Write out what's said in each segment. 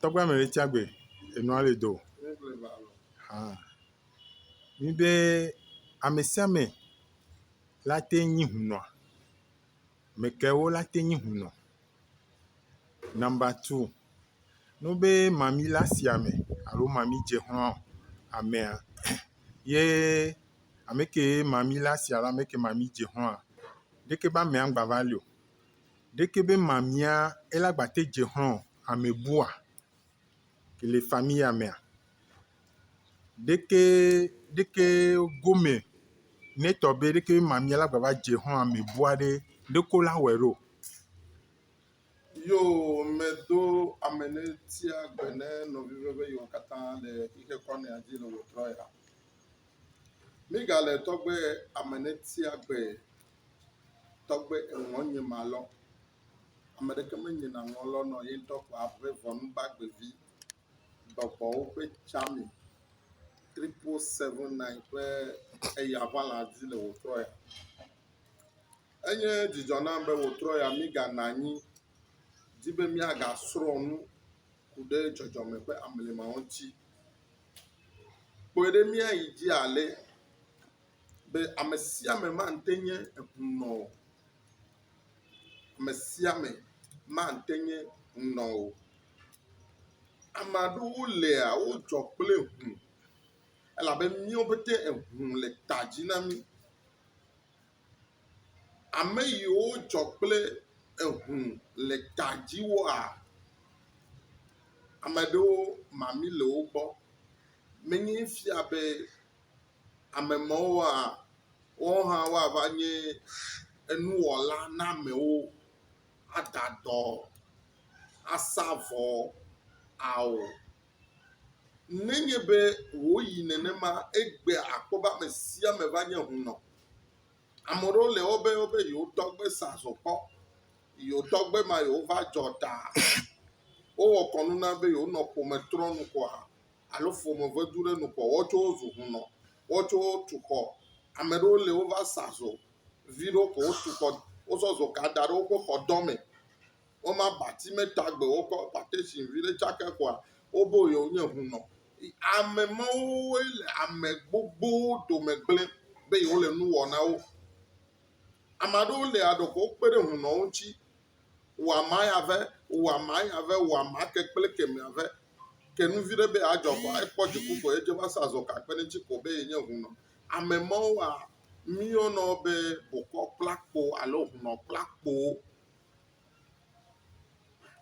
Tɔgbe ame ɖe tsia gbe enua le do haa. Nyi be ame sia ame la te nyi hunɔ. Ame kaewo la te nyi hunɔ? Nɔmba tu, ne wo be mami le asi ame alo mami dze ƒãa amea ye ame ke mami le asia alo ame ke mami dze ƒãa ɖeke be amea ŋgba va li o. Ɖeke be mamia ela gbate dze xlɔ ame bua ke le famia mea? Ɖeke ɖeke gome netɔ be ɖeke be mamia la gbava dze xlɔ ame bua ɖe ɖeko la wɔe ɖo. Yo me do ame ne tia gbe ne nɔvi ɖe be yewo katã le xixe kɔ nɔa dzi le wotrɔ ya. Mi ga le tɔgbe ame ne tia gbe tɔgbe eŋɔ nye ma lɔ. Ame ɖeke me nye na ŋɔ lɔ nɔ yeŋtɔ kɔ aƒe vɔnu gbagbe vi bɔbɔwo ƒe tsami triple seven nine ƒe eya ŋa la dzi le wotrɔ ya. Enye dzidzɔ nam be wotrɔ ya mi ga na anyi di be mia ga srɔ nu ku ɖe dzɔdzɔme ƒe amlima ŋuti. Kpɔe ɖe mia yi dzi ale. be ame sia ame mate nye ŋunɔ o. Ame sia ame mate nye ŋunɔ o. Ame aɖewo lia wodzɔ kple ŋu elabe míawo pɛte eŋu le ta dzi na mí. Ame yiwo dzɔ kple eŋu le ta dzi woa, ame aɖewo mami le wo gbɔ menye fia be. Ame mawoa, woawo hã woava nye enuwɔla na amewo, ada dɔ, asa vɔ, ao. Nenye be wòyi nenema egbe akpɔ be ame sia ame va nye hunɔ. Ame aɖewo le wobe wobe yewotɔgbe sa zɔ kpɔ, yewotɔgbe ma yewova dzɔ ta. Wowɔ kɔnu na be yewonɔ ƒome trɔnu koa, alo ƒome vedu ɖe nu kpɔ wotsɔ wo zu hunɔ, wotsɔ wo tu xɔ. Ame ɖewo le wova sa zo vi ɖewo ko wotu xɔ wozɔ zo ka da ɖe woƒe xɔ dɔ me. Woma abati me ta gbe wokɔ patesin vi ɖe tsaka xɔa wobe yewo nye hunɔ. Ame mawo woe le ame gbogbowo dome gblẽ be yewo le nu wɔ na wo. Ame aɖewo le aɖe ko wokpe ɖe hunɔwo ŋuti wɔ ama ya vɛ, wɔ ama ya vɛ, wɔ ama ke kple kemɛ vɛ. Ke nu vi ɖe be yeadzɔ vɔa, ekpɔ dziku ko ye dze va sa zɔ gakpe ne ŋutsi ko be ye nye hunɔ. Ame mawo wa míeyɔna wo be bokɔkplakpo alo hunɔkplakpo.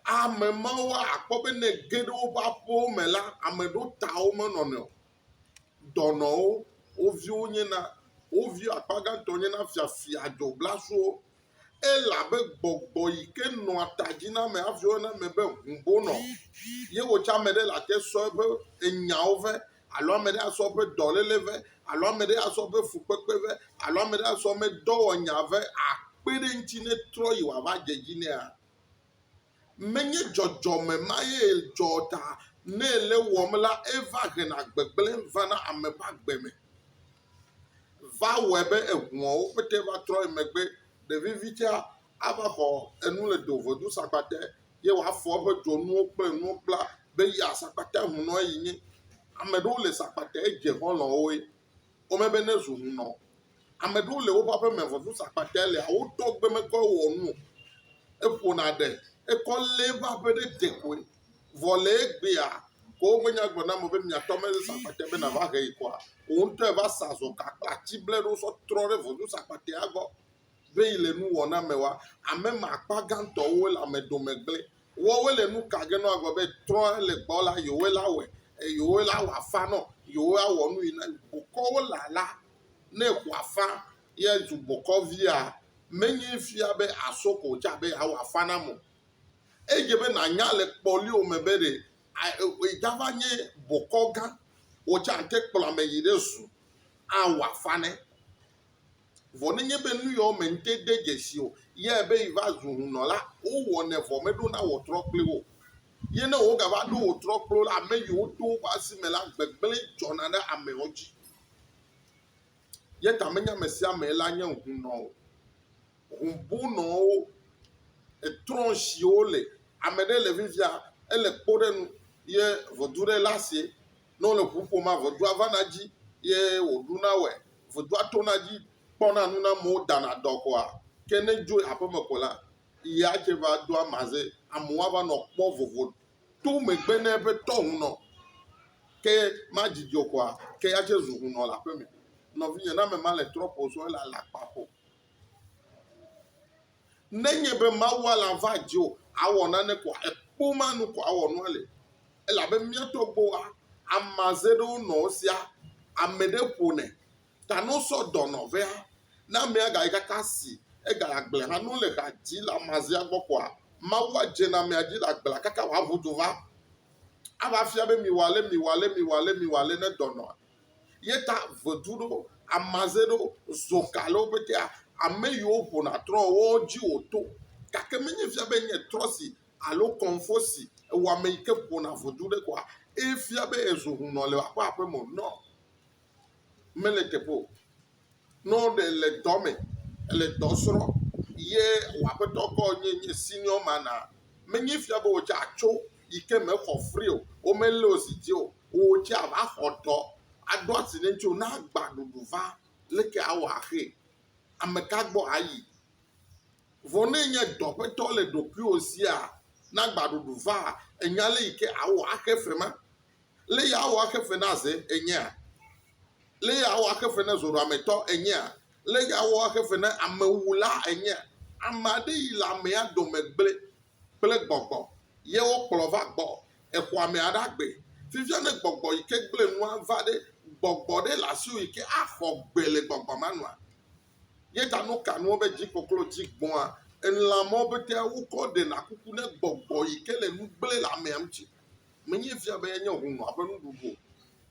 Ame mawoa akpɔ be ne ege ɖe woƒe aƒewo me la, ame ɖewo ta wo menɔnɔe o. dɔnɔwo, wo viwo nye na, wo vi akpa gãtɔ nye na fiafia dzɔblasowo. Elabe gbɔgbɔ yi ke nɔa ta dzi na ame hafi woyɔna ame be hũbonɔ. Ye wò tsɛ ame ɖe le ate sɔ eƒe enyawo vɛ alo ame ɖe asɔ eƒe dɔléle vɛ alo ame ɖe asɔ eƒe fukpekpe vɛ alo ame ɖe asɔ eme dɔwɔnya vɛ akpe ɖe eŋuti ne etrɔ yi wòava dze edzi nɛa? Menye dzɔdzɔme mae dzɔ ta nɛ le wɔm la eva hena gbegblẽ vana ame ƒe agbe me. Va wɔe be eŋuawo pete va trɔ yi megbe. Ɖevivitsea ava xɔ enu le dovodo sakpa te ye wòafɔ eƒe dzonuwo kple nuwo kpla be ya sakpa te hunɔe yi nye. Ame ɖewo le sakpa te dze xɔlɔ̃woe. wome be ne zu ŋunɔ. Ame ɖewo le woƒe aƒe me vɔ nu sa kpakɛ le a wotɔ gbe me kɔ wɔ nu o. Eƒo na ɖe ekɔ le eƒe aƒe ɖe de koe vɔ le egbea ko woƒe nya gblɔ na ame be miatɔ me sa kpakɛ be nava he yi kɔa wò ŋutɔe va sa zɔ gakpla tsi ble ɖo sɔ trɔ ɖe vɔdu sa kpakɛa gbɔ. be yi le nu wɔ na me wa ame ma akpa gantɔ wo le ame dome gble wɔ wo le nu ka ge nɔ agɔ be trɔ le gbɔ la yo wo la wɛ yo wo la wɔ afa nɔ yo wo awɔ nu yi na bokɔ wo la la ne xɔ afa ye zu bokɔ via me nyi fia be aso ko tsa be awɔ afa na mo eye be na nya le kpɔ li o me be ɖe e da va nye bokɔ gã wo tsa te kplɔ ame yi ɖe zu awɔ afa ne Vɔ nenye be nuyɔwo me ŋte de dzesi o yɛ be yiva zu hunnɔ la, wowɔnɛ vɔ meɖona wɔtrɔ kpli wo o. Yɛ ne wogava ɖo wɔtrɔ kpli wo la, ameyiwo to woƒe asi me la, gbegblẽ dzɔna ɖe amewo dzi. Yɛ ta menye amesiame la nye hunnɔ o. Hun bunɔwo etrɔ ŋshi wole. Ameɖe le vivia, ele kpo ɖe nu yɛ ʋɔdu ɖe le asie. Ne wole ŋu ƒom la, ŋudzɔa vana edzi ye wòɖuna wɔe. Ŋudzɔa tona edzi kpɔna nu na amewo dana dɔ kɔa. Ke ne edzo yi aƒeme ko la, ya tsɛ va doa maze. Amewo ava nɔ kpɔ vovo to megbe na eƒe tɔ hunɔ. Ke madidi o kɔa, ke ya tsɛ zu hunɔ le aƒeme. Nɔvinye, ne ame ma le trɔ̃ ƒo sɔ, ele alakpa ƒo. Nenye be mawua la va dzi o, awɔ nane ko ekpo ma nu ko awɔ nua le. Elabe mía tɔgbuiwoa, amaze ɖewo nɔ wo sia, ame ɖe ƒonɛ, ta ne wosɔ dɔ nɔ vea, ne amea gayi kaka si egayi agble hã, ne wole ha dzi le amazea gbɔ koa, mawua dzena amea dzi le agblea kaka wòaʋu du va, ava fia be miwɔ ale, miwɔ ale, miwɔ ale, miwɔ ale ne dɔ nɔa. Yeta vedu ɖo, amaze ɖo, zoka le woƒe tea. Ame yiwo ƒona trɔ woawo dzi wòto. Gake menye fia be enye trɔsi alo kɔnfosi ewɔ ame yi ke ƒona vedu ɖe koa, efia be ezu hunɔ le eƒe aƒe me o. Nɔ! Mele teƒe o. Ne ɖe le dɔ me, èle dɔ srɔ̃ ye wò aƒetɔ kɔ nye nye senior man a, menye fia be wò tsɛ àtso yi ke me xɔ fri o. Womelé wò zi dzi o. Wò tsɛ àva xɔ dɔ. Aɖo asi ɖe ŋutiwò ne agbã ɖuɖu va. Leke awɔ axee? Ameka gbɔ ayi? Vɔ ne ènye dɔ ƒe tɔ le ɖokuiwò sia, ne agbã ɖuɖu vaa, ènya ale yi ke àwɔ axe fe ma? Lé yeawɔ axe fe na ze enyea? Lé yeawɔ axe fe na zoɖoametɔ enyea? Lé yeawɔ axe fe na amewula enyea? Ame aɖe yi le amea dome gblẽ kple gbɔgbɔ, ye wokplɔ va gbɔ exɔ amea ɖa gbe. Fifia ne gbɔgbɔ yi ke gblẽ nua va ɖe, gbɔgbɔ ɖe le asiwò yi ke axɔ gbe le gbɔgbɔ ma nua? Ye ta nu ka nua be dzi koklo dzi gbɔ̃a elãmɔwo pɛtɛa wokɔ ɖena kuku ne gbɔgbɔ yi ke le nu gblẽ le amea ŋuti? menye fia be enye hũnɔa ƒe nuɖuɖu o.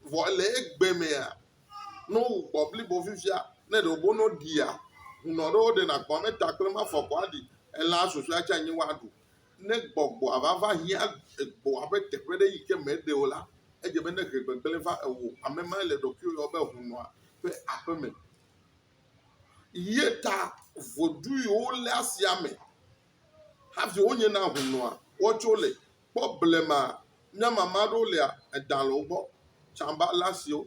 Vɔ le egbe mea, ne wowu kpɔ blibo fifia, ne ɖe wobɔ ne woɖia, hũnɔ ɖe woɖena kpɔ me ta kple mafɔ kɔ aɖi. Elã susɔea tsɛ anyi woaɖu. Ne gbɔgbɔa va va hiã egbɔa ƒe teƒe ɖe yi ke meɖe o la, edze be ne he gbegblẽ va ewò. Ame mae le ɖokuiwò yɔm be hũnɔa ƒe aƒeme. Ye ta vodui wole asia me hafi wonyena hũnɔa woatso le kpɔ blema nye ame ame aɖewo lia, eɖa le wo gbɔ, tsamba le asi wo,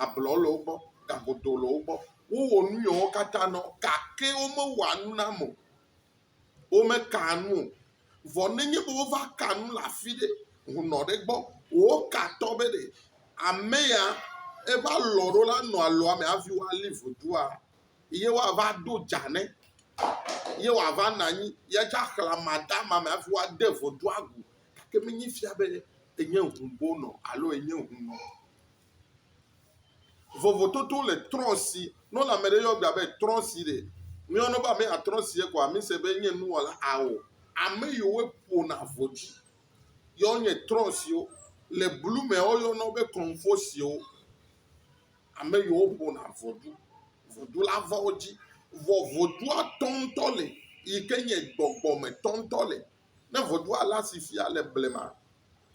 ablɔ le wo gbɔ, gagodo le wo gbɔ. Wowɔ nu yewo katã na wo gake womewɔa nu na ame o. Womekaa nu o. Vɔ nenye be wova ka nu le afi ɖe, hunɔ ɖe gbɔ, wokatɔ be ɖe ame ya eva lɔ ɖo la nɔ alɔa me hafi woali vodua, ye woava ɖo dza nɛ ye wòava nɔ anyi ye tsɛ axlẽ amadama me hafi woade vodua agu gake menye fia be enye hũbonɔ alo enye hũnɔ o. Vovototo le trɔ̃ si. Ne wole ame ɖe yɔ gbea be trɔ̃ si ɖe, míeyɔnɛ be ame ya trɔ̃ si ye koa, mise be enye nuwɔla? Ao. Ame yiwo ƒona vodui ye wonye trɔ̃ siwo. Le blu mea, woyɔna wo be kɔnfosiwo. ame yiwo ƒona ʋɔdu, ʋɔdu la va wo dzi. Vɔ ʋɔdua tɔ ŋutɔ li yi ke nye gbɔgbɔ me tɔ ŋutɔ li. Ne ʋɔdua le asi fia le blema,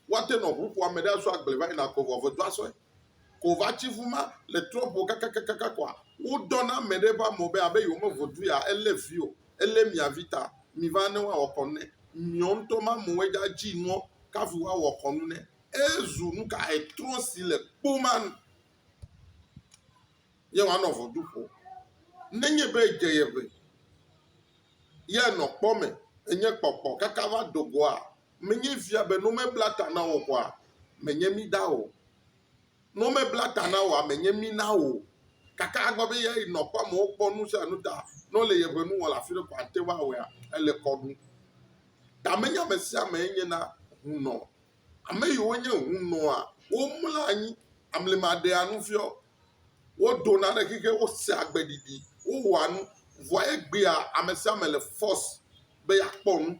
woate nɔ ŋu ƒo ame ɖe asu agble va yina ko vɔ ʋɔdua sɔe. Ko va tsi ŋu ma le trɔ ƒo kakakakaka kɔa, wodɔ na ame ɖe ƒe ame be abe yewo me ʋɔdu ya elé vi o, elé mia vi ta, mi va ne woawɔ kɔnu ne. Miɔ ŋutɔ ma amewo edza dzi nuɔ kafi woawɔ kɔnu ne. Ezu nuka etrɔ si le kpoma ye wòanɔ ʋɔtru ƒom. Nenye be edze ye ŋe ye nɔ kpɔ me enye kpɔkpɔ kaka va do goa, menye fia be ne womebla ta na wò oa, menye mí na wò o. Ne womebla ta na wòa, menye mí na wò o. Gake agbe be eyae nɔ kpɔ amewo kpɔ nu sia nu ta ne wole yeƒe nu wɔm le afi ɖe ko ate ŋu awɔea, ele kɔ ɖum. Ta menye ame sia amee nye na ŋunɔ Ame yiwo nye hunɔa, womlɔa anyi, amlima ɖea nu fiɔ, wodona ɖe xixe, wosea gbeɖiɖi, wowɔa nu vɔ egbea ame sia ame le fɔs be yeakpɔ nu.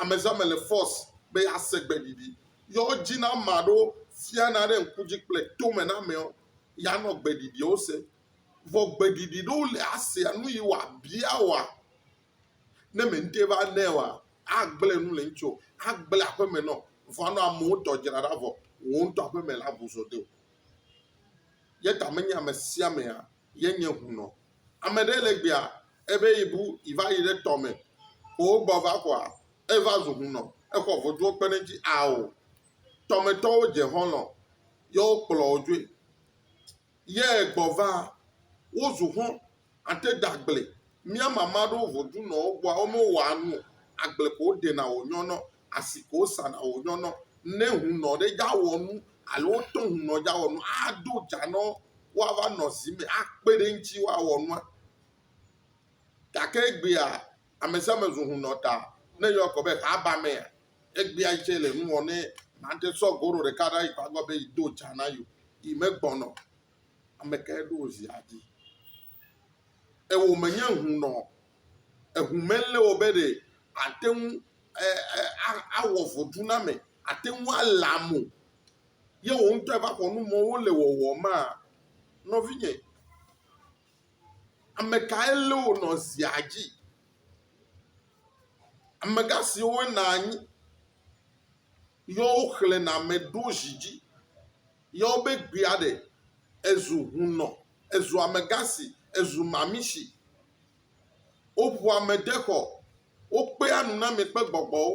Ame sia ame le fɔs be yease gbeɖiɖi. Yɔdziname aɖewo fiana ɖe ŋku dzi kple tome na amewo yeanɔ gbeɖiɖiwo sem. Vɔ gbeɖiɖi ɖewo li asea nu yi wòabia woa, Ne mente va nɛ oa, agblẽ nu le ŋuti o, agblẽ aƒeme nɔ. Vɔa nɔ amewo tɔ dzra ɖa vɔ, wò ŋutɔ aƒeme la bu zo de o. Ye ta menye ame sia amea ye nye ŋu nɔ. Ame ɖe le egbea, ebe yebu yeva yi ɖe tɔ me, ko wogbɔ va kɔa, eva zu ŋu nɔ, exɔ voduwo kpe ɖe eŋuti. Ao, tɔmetɔwo dze xɔlɔ̃, ye wokplɔ wo dzoe. Yɛ gbɔ va, wo zu xɔn ate da agble. Mía mama ɖo vo du nɔ wo gbɔa, wo me wɔ a nu o. Agble ko wo ɖena wo nyɔ nɔ, asi ko wo sa na wo nyɔ nɔ. Nɛ hun nɔ ɖe ja wɔ nu alo wo tɔ hun nɔ ja wɔ nu a do ja nɔ wo a va nɔ zi mɛ a kpe ɖe ŋci wo a wɔ nua. Gake egbea amesiame zu hun nɔ ta ne yɔ kɔ be xa ba mɛ a Egbea yi tsɛ le nu wɔm ne nate sɔ goro ɖeka ɖa yi kpagɔ be yi do dza na yo. Yi me gbɔnɔ. Ame kae ɖo wo zia dzi? Ewo me nye ŋu nɔ. Eŋu me lé wo be ɖe ate ŋu awɔ vodu na me. Ate ŋu ale amo. Ye wo ŋutɔ va xɔ nu mɔ wole wɔwɔ maa? Nɔvinye, ame kae lé wo nɔ zia dzi? Amegã siwo wona anyi yɔ woxlẽna ame ɖo zi dzi yɔ wobe gbea ɖe ezu hunɔ, ezu amegã si, ezu mami si. Woŋua ame de xɔ, wokpea nuname kple gbɔgbɔwo.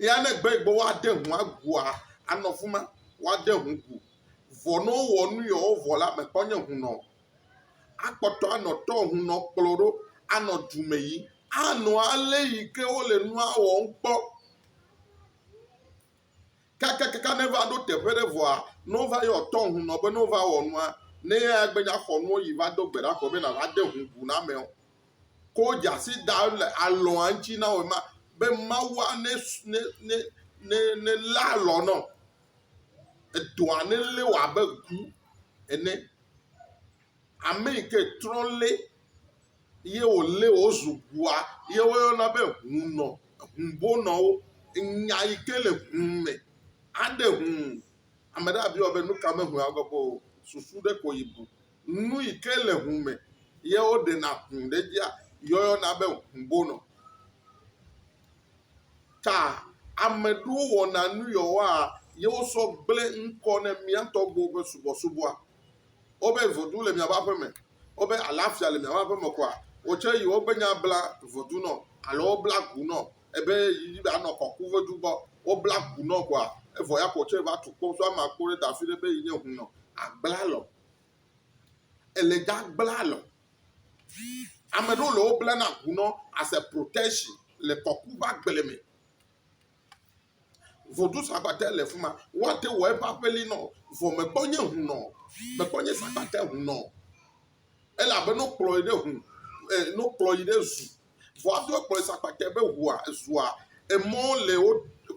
Eya ne gbe yi gbɔ woade ŋu agua, anɔ afi ma, woade ŋu gu. Vɔ ne wowɔ nu yi wovɔ la me kpɔ nye ŋu nɔ. Akpɔtɔ anɔ tɔ ŋu nɔ kplɔ ɖo anɔ du me yi. Anɔ ale yi ke wole nua wɔm kpɔ. Kakakaka ne va ɖo teƒe ɖe vɔa, ne wova yɔ tɔ ŋu nɔ be ne wova wɔ nua, ne eya gbe nya xɔ nuwo yi va do gbe ɖa kɔ be nava de ŋu gu na amewo. ko dzasi dam le alɔa ŋuti na wò ma be Mawua ne ne ne ne ne lé alɔ nɔ. Edɔa ne lé wò abe gu ene. Ame yi ke trɔ lé ye wòlé wò zu gua ye woyɔna be hunɔ, hubonɔwo. Nya yi ke le hu me aɖe hu. Ame ɖe abiɔ be nu ka me hua gbɔ kpɔ o. Susu ɖe ko yi bu Nu yi ke le ŋu me ye woɖena ŋu ɖe edzia, yɔyɔna be ŋubonɔ. Ta ame ɖewo wɔna nu yewoa ye wosɔ gblẽ ŋkɔ ne mía tɔgbuiwo ƒe subɔsubɔa. Wobe voduu le miaƒe aƒe me, wobe alafia le miaƒe aƒe me koa, wò tsɛ yi wo gbenye abla vodu nɔ alo wobla gu nɔ ebe yi be anɔ kɔku vodu gbɔ. Wobla gu nɔ koa, evɔ ya ko wò tsɛ va tu kpo so ama kpo ɖe da fiɖe be yi nye ŋu nɔ agbla lɔ. ele dza gbla alɔ. Ame ɖewo le wo bla na ŋu nɔ as a protection le kɔku ƒe agble me. Vodu sagbate le fi ma. Woate wɔ eƒe aƒeli nɔ vɔ mekpɔ nye ŋu nɔ. Mekpɔ nye sagbate ŋu nɔ. Elabe no kplɔ yi ɖe ŋu e no kplɔ yi ɖe zu Vɔ ado ekplɔ esa kpakɛ be ʋua zua emɔ le wo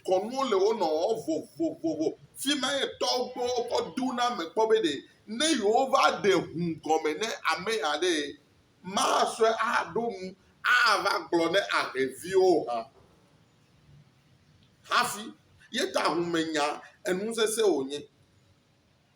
kɔnuwo le wo nɔ vovovovo. Fi ma ye tɔwo gbɔ wokɔ do na ame kpɔ be ɖe ne yewova ɖe ŋu gɔme ne ame ya ɖe masɔe aɖo nu ava gblɔ ne ahlɛviwo hã. Hafi ye ta ŋumenya enu sese wonye.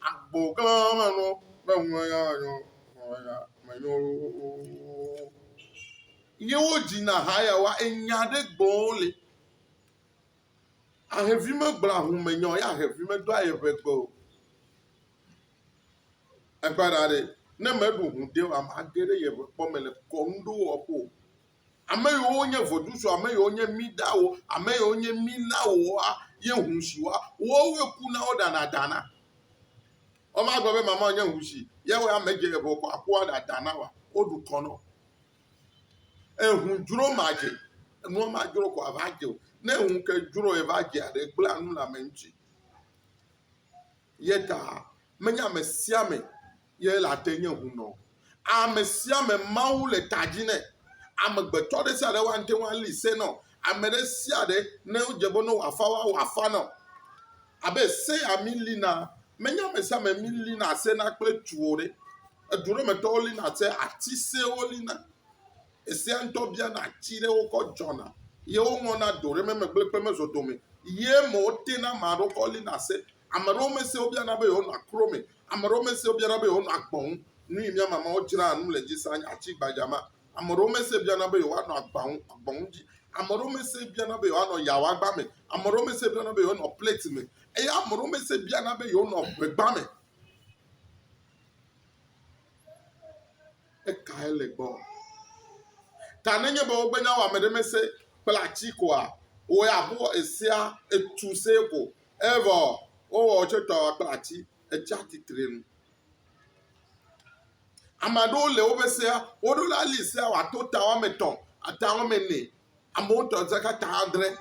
Agbo gã me nɔ be ŋlɔ nya nyɔ nya me nyɔ wo. Ye wo dzi na ha ya wa enya ɖe gbɔ le. Ahevi me gblɔ ahu me nyɔ ya ahevi me do aye ʋe gbe o. Ekpara ɖe ne me ɖu hu de wa ma ge ɖe ye ʋe kpɔ me le kɔnu ɖo wɔ ƒo. Ame yiwo wonye vodusu, ame yiwo nye Midawo, ame yiwo nye Milawoa ye husiwoa, wowoe kuna woɖana da na. Womagblɔ be mamawò nye husi, ya wɔ ame dze eŋɔ kɔ akua ɖa da na wa. Woɖu kɔ na wo. Ehu dzro madze. Enua madzro kɔ ava dze o. Ne ehu ke dzro eye va dzea ɖe, egblẽa nu le ame ŋuti. Ye ta menye ame sia ame ye la te nye hunɔ. Ame sia ame Mawu le ta dzi nɛ. Amegbetɔ ɖe sia ɖe wa ŋte ŋu ali se nɔ ame ɖe sia ɖe ne wodze be ne wɔ afa wa wɔ afa nɔ. Abe se ya mi li na me nye ame sia ame mi li na se na kple tu o ɖe. Edu ɖe me tɔwo li na se ati se wo li na. Esea ŋtɔ bia na ati ɖe wo kɔ dzɔ na ye wo ŋɔ na do ɖe me me gble kple me zɔ dome ye me wo te na ma ɖo kɔ li na se. Ame ɖewo me se wo bia na be yewo nɔ akro me Ame ɖewo mesee biana be yewoanɔ agbe ŋu. Nu yi mía mamawo dzraa nu le edzi saa nye ati gbadza ma. Ame ɖewo mesee biana be yewoanɔ agba ŋu, agba ŋu dzi. Ame ɖewo mesee biana be yewoanɔ yawagba me. Ame ɖewo mesee biana be yewoanɔ plɛti me. Eye ame ɖewo mesee biana be yewonɔ ŋegba me. Ekae le gbɔ? Ta nenye be wogbe nya wɔ ame ɖe mese kple ati koa, wowɔe abe esea etu see ko Evɔ wowɔ wò tso tɔwɔ kple ati, etsi atsitre nu. Ame aɖewo le woƒe sea, woɖo la li sea wòato ta woame etɔ̃, ata woame ene, amewo tɔ zaka ta adre.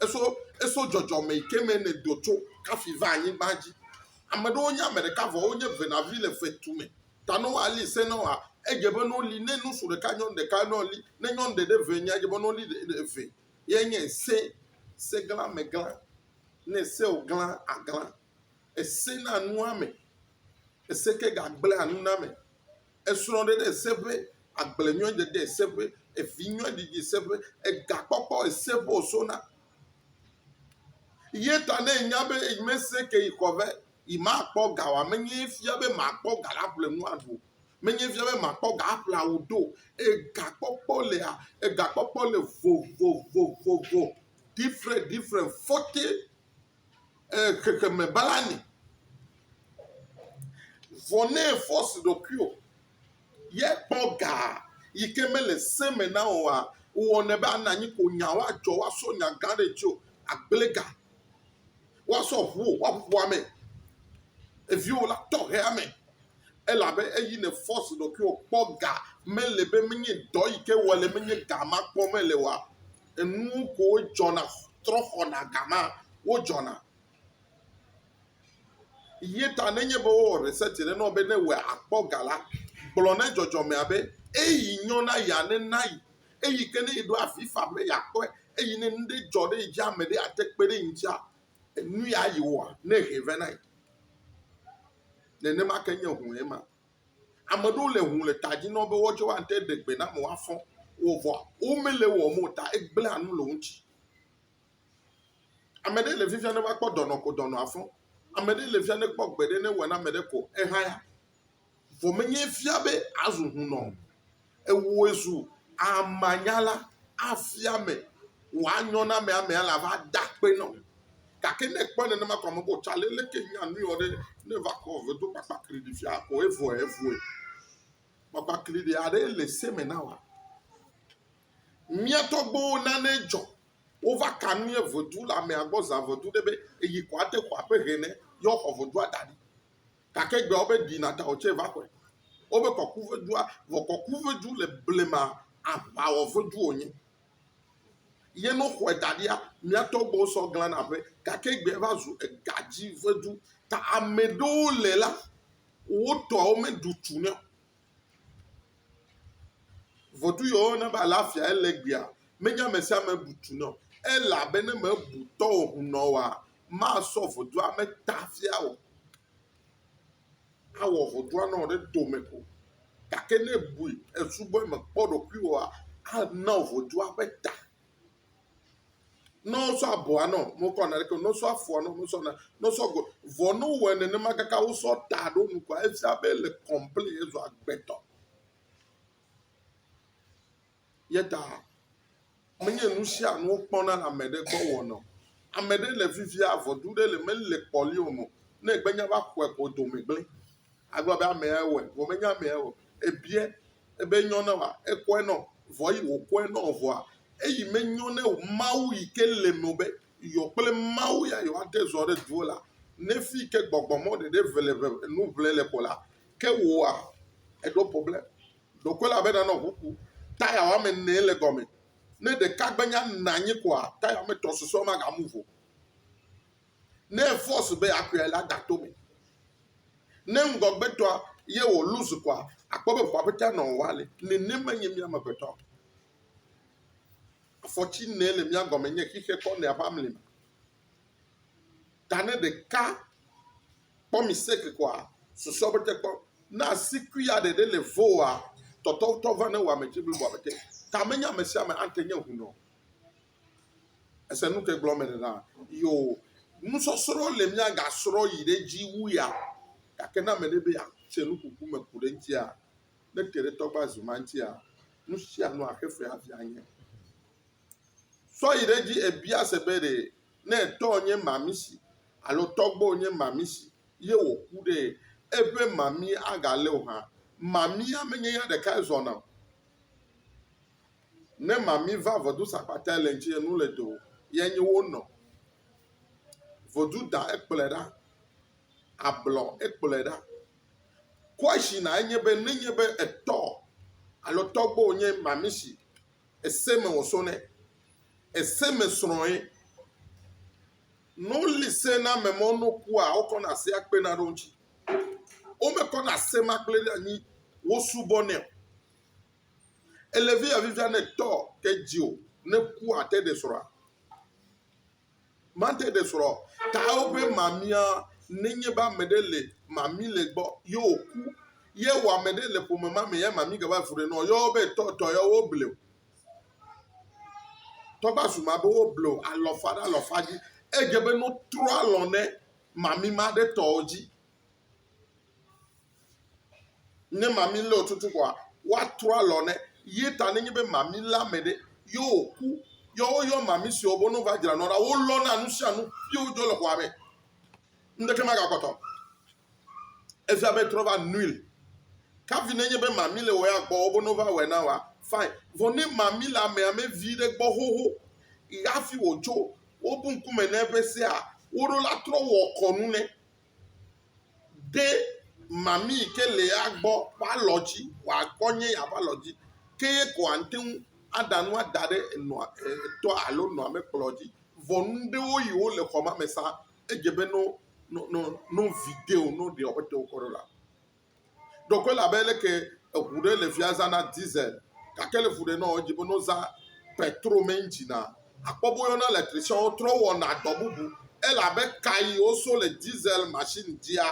Eso eso dzɔdzɔme yi ke me nèdo tso kafi va anyigba dzi. Ame aɖewo nye ame ɖeka vɔ wonye venavi le fetu me. Ta ne woali se na woa, edze be ne woli ne ŋutsu ɖeka nyɔnu ɖeka ne woli ne nyɔnu ɖe ɖe vɛ nyea edze be ne woli ɖe ɖe eve. ye nye se, segla me gla, ne ese wògla agla, ese na nua me, ese ke gagblẽa nu na ame, esrɔ̃ɖeɖe ese ƒe, agblenyuiɖeɖe ese ƒe, evinyuiɖeɖi ese ƒe, egakpɔkpɔ ese ƒe wòsona. Ye ta ne ènya be mese ke yi xɔ be yemakpɔ ga o, ame nyee fia be makpɔ ga la ƒle nu aɖu o. Menye fia be makpɔ ga aƒlea wò ɖo. Egakpɔkpɔ lea, egakpɔkpɔ le vovovovovo, different different fɔte e xexeme bala ni. Vɔ ne efɔsi ɖokuiwò ye kpɔ ga yi ke mele se me na wòa, wɔnɛ be ana anyi ko nya woadzɔ woasɔ nya gã ɖe ŋuti o. Agblẽ ga. woasɔ ʋu wò woaƒu ame, eviwo la tɔ he ame, elabe eyi ne force ɖokuiwò kpɔ ga mele be menye dɔ yi ke wɔ le menye ga ma kpɔ mele oa, enuwo koe dzɔna trɔ xɔna ga ma wodzɔna. Ye ta nenye be wowɔ research ɖe na wò be ne wòe akpɔ ga la, gblɔ ne dzɔdzɔmea be eyi nyɔna ya nena yi Eyi ke ne eɖo avi fam be yeakpɔe eye ne nu ɖe dzɔ ɖe ye dzia ame ɖe ate kpe ɖe eŋutia, nu ya yi wɔa ne ehɛ vɛ na ye. Nenema ke nye hũu ema. Ame aɖewo le hũu le ta dzi na wo be woawo tsɛ woate ɖe gbe na ame woafɔ wo vɔa womele ewɔm o ta egblẽa nu le wo ŋuti. Ame ɖe le fifia ne va kpɔ dɔnɔ ko dɔnɔ afɔ. Ame ɖe le fifia ne kpɔ gbe ɖe ne ewɔ na ame ɖe ko ehaya. Vɔ menye efia be azu hunɔ o. Ewɔe zu amanyala, afia ame, wòanyɔ na ame, ame la va da akpe na wò. Gake ne ekpɔe nenema ko ame be otsa le, leke nya nui wɔ ɖe ne eva kɔ ve do kpakpakli ɖi fia ko evɔe evɔe? Kpakpakli ɖe aɖe le se me na wòa? Mía tɔgbuiwo nane dzɔ. Wova ka nu ye vedu le amea gbɔ zã vedu ɖe be eyi ko ate xɔ aƒe hɛnɛ ye woxɔ vedua da ɖi. gake egbe wobe ɖi na ta wòtsɛ va xɔe. Wobe kɔkuvedua, vɔ kɔkuvedu le blema aʋawɔvedu wònye. Ye ne woxɔe da ɖia, mía tɔgbuiwo sɔ glãna aƒe gake egbe va zu egadzivedu. Ta ame ɖewo le la, wo tɔwo meɖu tu nɛ o. Vodu yɔ wo ne be alafia ele gbea, menye ame sia ame bu tu nɔ. Elabene me bu tɔ o ŋu nɔ woa, masɔ vodua me ta fia o. Awɔ vodua nɔ ɖe tome ko. Gake ne bui esubɔe mekpɔ ɖokuiwòa, ana vodua ƒe ta. Ne wosɔ abɔa nɔ, mekɔ naneke, ne wosɔ afɔa nɔ, mesɔ na, ne wosɔ go, vɔ ne wowɔe nenema kaka wosɔ ta ɖo nu kɔa, efia be ele kɔmplen, ezu agbetɔ. Ye ta menye nu sia nu wokpɔna le ame ɖe gbɔ wɔna o. Ame ɖe le vivia vɔdu ɖe le mele kpɔli o mɔ ne egbe nya va xɔe ko dome gblẽ. Agblɔ be amea wɔe vɔ menye amea wɔe o. Ebiɛ ebe enyo na wòa, ekɔe nɔ. Vɔ eyi wòkɔe nɔ o vɔa, eyi menyo nɛ o. Mawu yi ke le eme be yeɔ kple Mawu ya yewoate zɔ ɖe duwo la, ne fi yi ke gbɔgbɔ mɔ ɖeɖe eve le ŋe nu ŋle le kɔ la, ke wòa, eɖo problème. Ɖeko elabena nɔ ŋu ku, taya woame ene ye le gɔme. Ne ɖeka gbe nya nɔ anyi koa, taya woame etɔ̃ susɔewo maga move o. ne efɔs be akɔe la da to me. Ne ŋgɔgbetɔa ye wɔ lose kɔa, akpɔ be ŋua ƒete anɔ wɔ ale. Nenema nye mía amegbetɔ. Afɔti nɛ le mía gɔme nye xixe kɔ nɛa ƒe amlima. Ta ne ɖeka kpɔ mistake kɔa, susɔ be te kpɔ. Na asikui ya ɖeɖe le voa, tɔtɔtɔ va ne wɔ ame dzi bliboa be te. Ta menye ame sia ame ate nye hunɔ. Ese nu ke gblɔm mele na? Yoo, nusɔsrɔ̃ le mía ga srɔ̃ yi ɖe edzi wu ya. Gake ne ame ɖe be yeatse nu kuku me ku ɖe eŋutia, ne te ɖe tɔgba zu ma ŋutia, nu sia nu axe fe hafi anye. Sɔ yi ɖe edzi ebia se be ɖe ne etɔ nye mamisi alo tɔgbɔ nye mamisi ye wòku ɖe, eƒe mami agalé o hã. Mamia menye ya ɖekae zɔna o. Ne mami va vɔdu sakpata le ŋtsi enu le do ye nyi wo nɔ vɔdu da ekplɔe ɖa ablɔ ekplɔe ɖa kɔshi na enye be ne nye be etɔ alo tɔgbo nye mami si ese me wo so ne ese me srɔe no li se na me mɔ no kua wo kɔ na se akpe na ɖo ŋtsi wo me kɔ na se ma kple ɖe anyi wo subɔ ne Elevi ya vivia ne tɔ ke dzi o ne kua te ɖe srɔ̃a. Mate ɖe srɔ̃ ta woƒe mamia nenye be ame ɖe le mami le gbɔ ye wòku ye wɔ ame ɖe le ƒome ma me ya mami gava fu ɖe nɔ yɔ be tɔ tɔ ya woble o. Tɔgba su ma be woble o alɔfa ɖe alɔfa dzi edze be no trɔ alɔ ne mami ma ɖe tɔ dzi. Ne mami lé wò tutu koa, woatrɔ alɔ nɛ. Ye ta nenye be mami lé ame ɖe ye wòku, ye woyɔ mami siwo be ne wova dzra nua ɖa, wolɔna nu sia nu ye wodzɔ le xɔa me. Ŋɖeke magakpɔtɔ. Efia be trɔ va nuil. Kavi nenye be mami le wɔ ya gbɔ wo be ne wova wɔe na wòa, fine. Vɔ ne mami le amea me vi ɖe gbɔ xoxo hafi wòtso wobu ŋkume na eƒe sea, woɖo la trɔ wɔ kɔnu nɛ. ɖe mami yi ke le ya gbɔ ƒe alɔ dzi wòakɔ nye ya ƒe alɔ dzi ke ye ko ate ŋu aɖa nua da ɖe enɔa e etɔa alo enɔa ƒe kplɔ dzi. Vɔ nu ɖewo yi wo le xɔa me sa edze be no no no no vi de o no ɖe woƒe tewo kɔ ɖo la. Ɖo koe le abe leke eŋu ɖe le fia zana diesel gake le ŋu ɖe nɔ edzi be no zã petro me engine a akpɔ be woyɔna electrician wo trɔ wɔna dɔ bubu. Ele abe ka yi woso le diesel machine dzia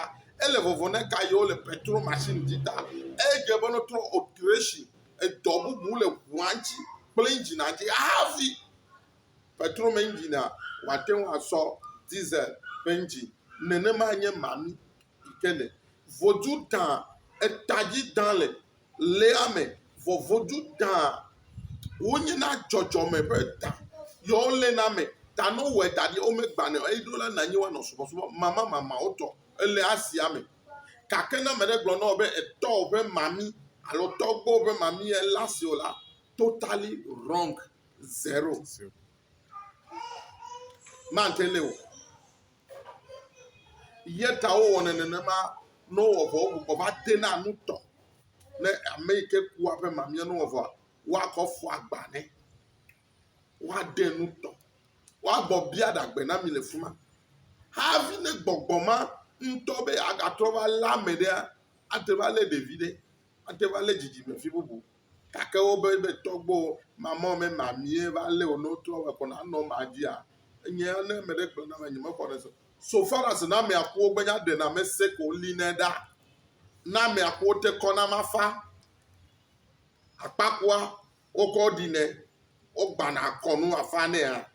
ele vovo ne ka yi wole petro machine dzi ta. Eye dze be no trɔ alteration edɔ bubu le ŋua ŋtsi kple engine a dzi hafi petro me engine a woate ŋu asɔ diesel ƒe engine. Nenema nye mami yi ke le. vodu ta eta dzi ta le lea me vɔ vodu ta wonye na dzɔdzɔme ƒe ta yɔ wole na me ta no wɔ da ɖi wome gbanɔ eyi ɖo la na nyi woanɔ subɔsubɔ mamamama wotɔ ele asia me gake ne meɖe gblɔ nɔwo be etɔ woƒe mami alo tɔgbo woƒe mami ela si o la totally wrong zero mante le o. Ye ta wowɔnɛ nenema ne wowɔ vɔ wogbugbɔ va dena nu tɔ ne ame yi ke kua ƒe mamia ne wowɔ vɔa woakɔ fɔ agba nɛ woade nu tɔ woagbɔ bia ɖagbe na mi le fi ma hafi ne gbɔgbɔ ma ŋutɔ be agatrɔ va lé ame ɖea ate va lé ɖevi ɖe ate va lé dzidzimevi bubu Gake wobe be tɔgbo mamɔ me mamie va lé wo ne wotrɔ wɔ kɔ na nɔ ma dzia. Enye ne me ɖe gblɔ na me nyeme xɔ ne so. So far as na me akuwo gbe nya ɖe na me se ko li ne ɖa. Na me akuwo te kɔ na ma fa. Akpakua wo kɔ ɖi ne wo gbana kɔnu afa ne ya.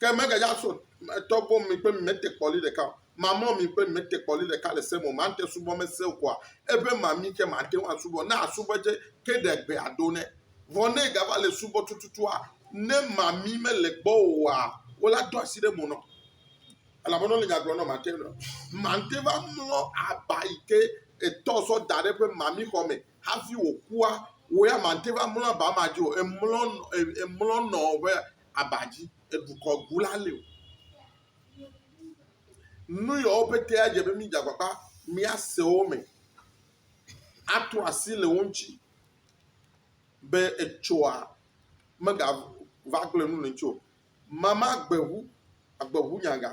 Ke mege ya so etɔ gom mi kple mi mete kpɔ li ɖeka o. Mamlɔ mi kple mi mete kpɔ li ɖeka le se me o. Mante subɔ me se o koa? Eƒe mami ke mate ŋu asubɔ. Ne asubɔ dze ke ɖe gbe ado nɛ. Vɔ ne gava le subɔ tututua, ne mami mele gbɔ oa, wo la do asi ɖe mo nɔ. Elabena wole nya gblɔ nɔ mate nɔ. Mante va mlɔ aba yi ke etɔ sɔ da ɖe eƒe mami xɔ me hafi wòkua, wò ya mate va mlɔ aba ma dzi o. Emlɔ nɔ, emlɔ nɔ ƒe aba dzi edukɔ gu la li o. Nu yawo pete adze be mídze agbagba míase wo me ato asi le wo ŋuti be etsɔa megava gblẽ nu le ŋuti o. Mama gbe ŋu agbe ŋu nyaga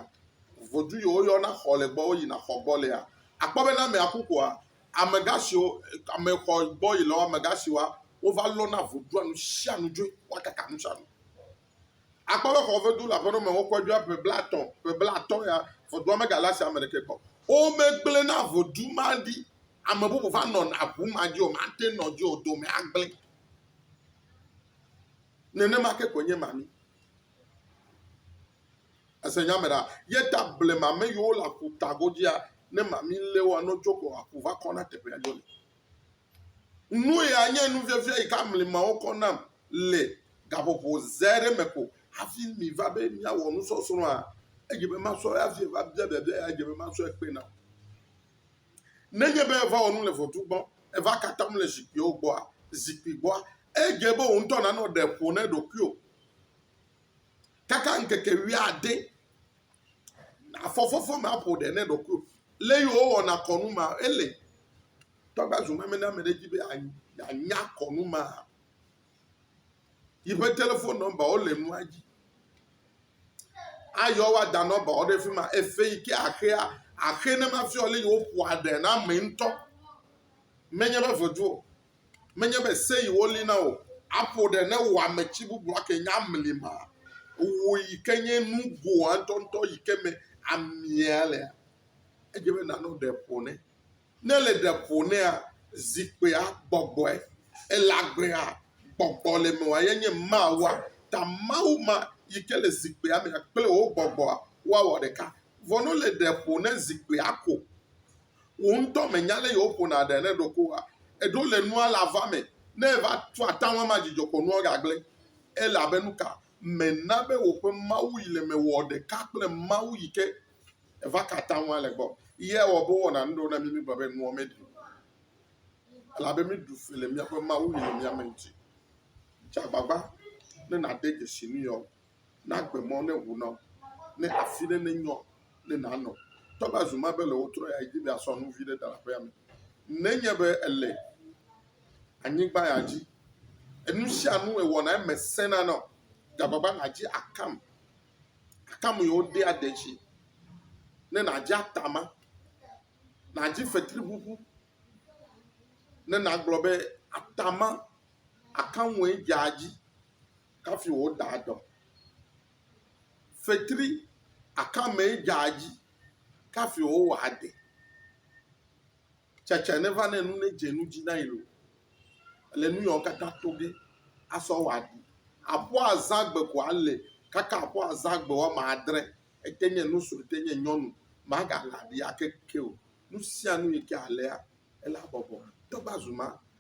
vodu yi woyɔna xɔ le gbɔ woyina xɔ gbɔ lea akpɔ be ne amea ku koa amegã siwo ame xɔ gbɔ yi le amegã siwoa wova lɔna vo ɖoa nu sia nu dzoe. Woakaka nu sia nu. Akpɔ be xɔ vedu le aƒenɔ me wokɔe ɖoa ƒe blaetɔ̃, ƒe blaatɔ̃ ya vɔ ɖoa megale asi ame ɖekɛ kpɔ. Womegblẽna vodu ma ɖi. Ame bubu va nɔna ŋu ma dzi o, mate ŋu nɔ edzi o, dome agblẽ. Nenema ke koe nye mami. Ese nya me ɖa? Ye ta blema ame yiwo le aƒutagodzia, ne mami lé wo anɔ dzo ko aƒu va kɔna teƒea dzo li. Nue anye nufiafia yi ke amli mawo kɔ nam le gaƒoƒo ze aɖe me ko hafi miva be miawɔ nusɔsrɔ̃a? Edze be masrɔ̃ ya hafi va bia biabia ya edze be masrɔ̃e kpe nam. Nenye be èva wɔ nu le ʋɔtru gbɔ, èva ka atam le zikpuiwo gbɔa, zikpui gbɔa, edze be wò ŋutɔ nànɔ ɖe ƒo na ɖokuiwò kaka ŋkeke wuiade. Afɔ fɔfɔ ma ƒo ɖe ne ɖokui. Le yi wowɔ na kɔnu ma ele. Tɔgba zu meme na me ɖe dzi be anya kɔnu ma. Yi ƒe telefon nɔmba wo le nua dzi. Ayɔ wa da nɔmba wo ɖe fi ma. Efe yi ke axea axe ne ma fia le yi woƒoa ɖe na me ŋutɔ. Menye be vedu o. Menye be se yi wo li na o. Aƒo ɖe ne wò ame tsi bubu la ke nye amli ma. Wò yi ke nye nugoa ŋutɔ ŋutɔ yi ke me amia lea. Edze be na nɔ ɖe ƒo ne. Ne le ɖe ƒo nea, zikpuia gbɔgbɔe. Ele agbea gbɔgbɔ le me wa ye nye ma wa. Ta Mawu ma yi ke le zikpuia mea kple wò gbɔgbɔa wa wɔ ɖeka. Vɔ no le ɖe ƒo ne zikpuia ko. Wò ŋutɔ mènya ale yio ƒona ɖe ne ɖoko wa eɖo le nua la va me ne eva tu ata ŋu ama dzidzɔ kpɔ nua gagble. Ele abe nuka mèna be wò ƒe Mawu yi le me wɔ ɖeka kple Mawu yi ke eva ka ata ŋu ale gbɔ ye ewɔ be wowɔna nu ɖewo na mi mígblɔ be nua meɖi o. Ele abe míɖu fe le míaƒe Mawu yi le mía me ŋuti. Dze agbagba ne nàde dzesi nu yewo. nagbe mɔ ne ŋu na wo, ne afi ɖe ne nyɔ ne nanɔ. Toa be azu ma be le wotrɔ ya edzi be asɔ nu vi ɖe da le aƒea me. Nenye be ele anyigba ya dzi, enu sia nu ewɔna eme sena na wò. Gagbagba nàdzi akam, akam yi wode ade dzi ne nàdzi atama, nàdzi fetriŋuŋu ne nàgblɔ be atama akamue dze adzi. kafi wòda dɔ. Fetri akamee dzaa dzi kafi wòwɔ ade. Tsɛtsɛ ne va ne nu ne dze nu dzi na yi lo, le nu yawo katã to ge asɔ wɔ aɖu. Aƒua azã gbe ko ale kaka aƒua azã gbe woame adre, ete nye nu sue, ete nye nyɔnu, magahlẽ aɖi ake ke o. Nu sia nu yi ke alea, ele habɔbɔ. Dɔ va zu ma,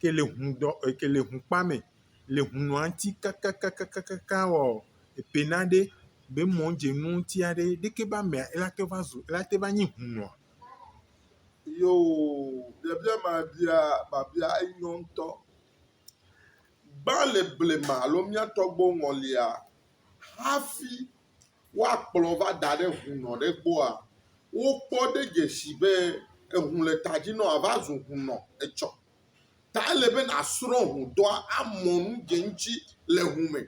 ke le ŋu dɔ ke le ŋu kpa mɛ le ŋu nɔa ŋuti kakakakaka wɔɔ, epe naɖe be mɔ dze nu ŋuti aɖe ɖeke be amea ela te va zu ela te va nyi ŋu nɔ. Yoo biabia ma bia biabia enyɔ ŋutɔ. Gbã le blema alo mía tɔgbuiwo ŋɔlia hafi woakplɔ va da ɖe hunɔ ɖe gbɔa, wokpɔ ɖe dze si be eŋu le ta dzi na wòa va zu hunɔ etsɔ. Ta ele be nàsrɔ̃ hudɔa, amɔ nu dze eŋuti le ŋu me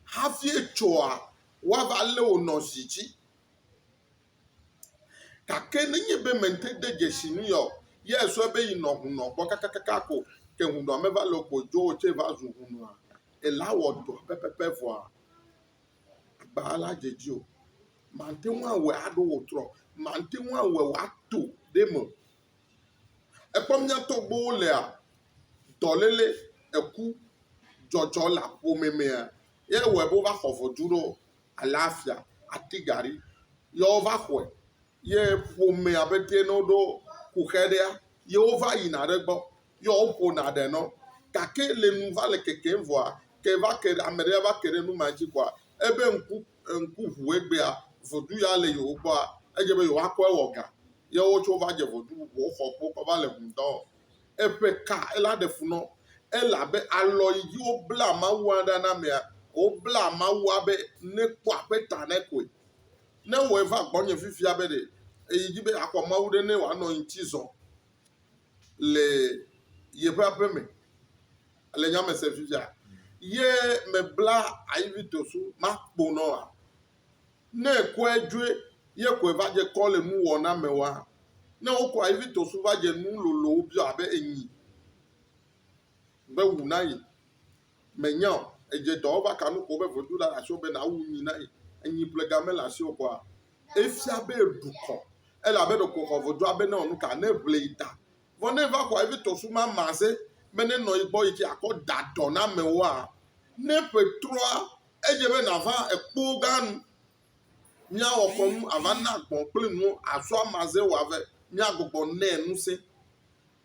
hafi etsɔa woava lé wò nɔ zi dzi. Gake nenye be mète de dze si nui o, ye èsrɔ̃e be yi nɔ hunɔ gbɔ kakakaka ko ke hunɔa meva le o ko dzo wò tsɛ va zu hunɔa, ele awɔ dɔa pɛpɛpɛ vɔa, agbaa la dze edzi o. Màte ŋu awɔe aɖo wò trɔ o. Màte ŋu awɔe wòato ɖe eme o. Èkpɔ mía tɔgbuiwo lea? Dɔléle, eku, dzɔdzɔ le ƒome mea, ye wɔe be wova xɔ vodui ɖo. Alafia, ati gari, ye wova xɔe. ye ƒomea be ɖe ne woɖo kuxe ɖea, ye wova yina ɖe egbɔ ye woƒona ɖe na wo. Gake le nu va le kekem vɔa, ke va ke ɖe ame ɖe va ke ɖe nu ma dzi vɔa, ebe ŋku ŋku ŋu egbea, vodu ya le yewo gbɔa, edze be yewoakɔ ewɔ ga. Ye wotsɔ va dze vodu bubu woxɔ kpo kɔ va le ŋu dɔ wɔm. Eƒe ka ela ɖe fu na wo elabe alɔ yi dzi wobla Mawua ɖa na amea, wobla Mawua be nekpɔ aƒe ta na koe. Ne ewɔe va gbɔnye fifia be ɖe eyi dzi be yeaxɔ Mawu ɖe ne wòanɔ ye ŋuti zɔm le yeƒe aƒe me le nya me sem fifia ye mebla Aivito so makpo nɔ oa? Ne ekɔe dzoe ye koe va dze kɔ le nuwɔna me oa? Ne wokɔ Aivito so va dze nu lolowo biɔ abe enyi be wu na ye Mènya o, èdze dɔwɔwɔ aka nu ƒo be vodula le asiwò be nàwu nyi na ye. Enyiƒlega mele asiwò kpɔ a? Efia be èɖu kɔ. Ele abe ɖeko xɔ vodua be newɔ nu ka neŋle yi ta. Vɔ ne eva xɔa vevitɔ suma maze be nenɔ yi gbɔ yi ke akɔ da dɔ na amewoa? Ne ƒe trɔa, edze be nàva ekpoo gã nu. Míawɔ kɔnu ava na gbɔ̃ kple nuwo azɔa maze wòave míagbugbɔ nɛ ŋusẽ.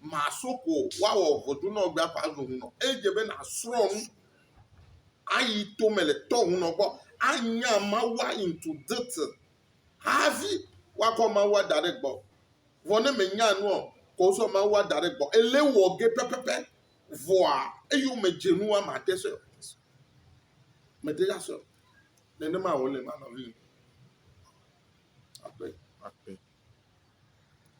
maso ko woawɔ ʋɔtru nɔ gbea ƒe azu hũnɔ. Eye dze be nàsrɔ̃ nu ayi tome le tɔ hũnɔ gbɔ anya Mawua into detail hafi woakɔ Mawua da ɖe gbɔ. Vɔ ne mènya nua o ko wosɔ Mawua da ɖe gbɔ, ele wɔ ge pɛpɛpɛ vɔa eyome dze nua màte sɔe o. Mète ŋu asɔe o. Nenema wòle ma nɔvinyɔ. Akpe. Akpe.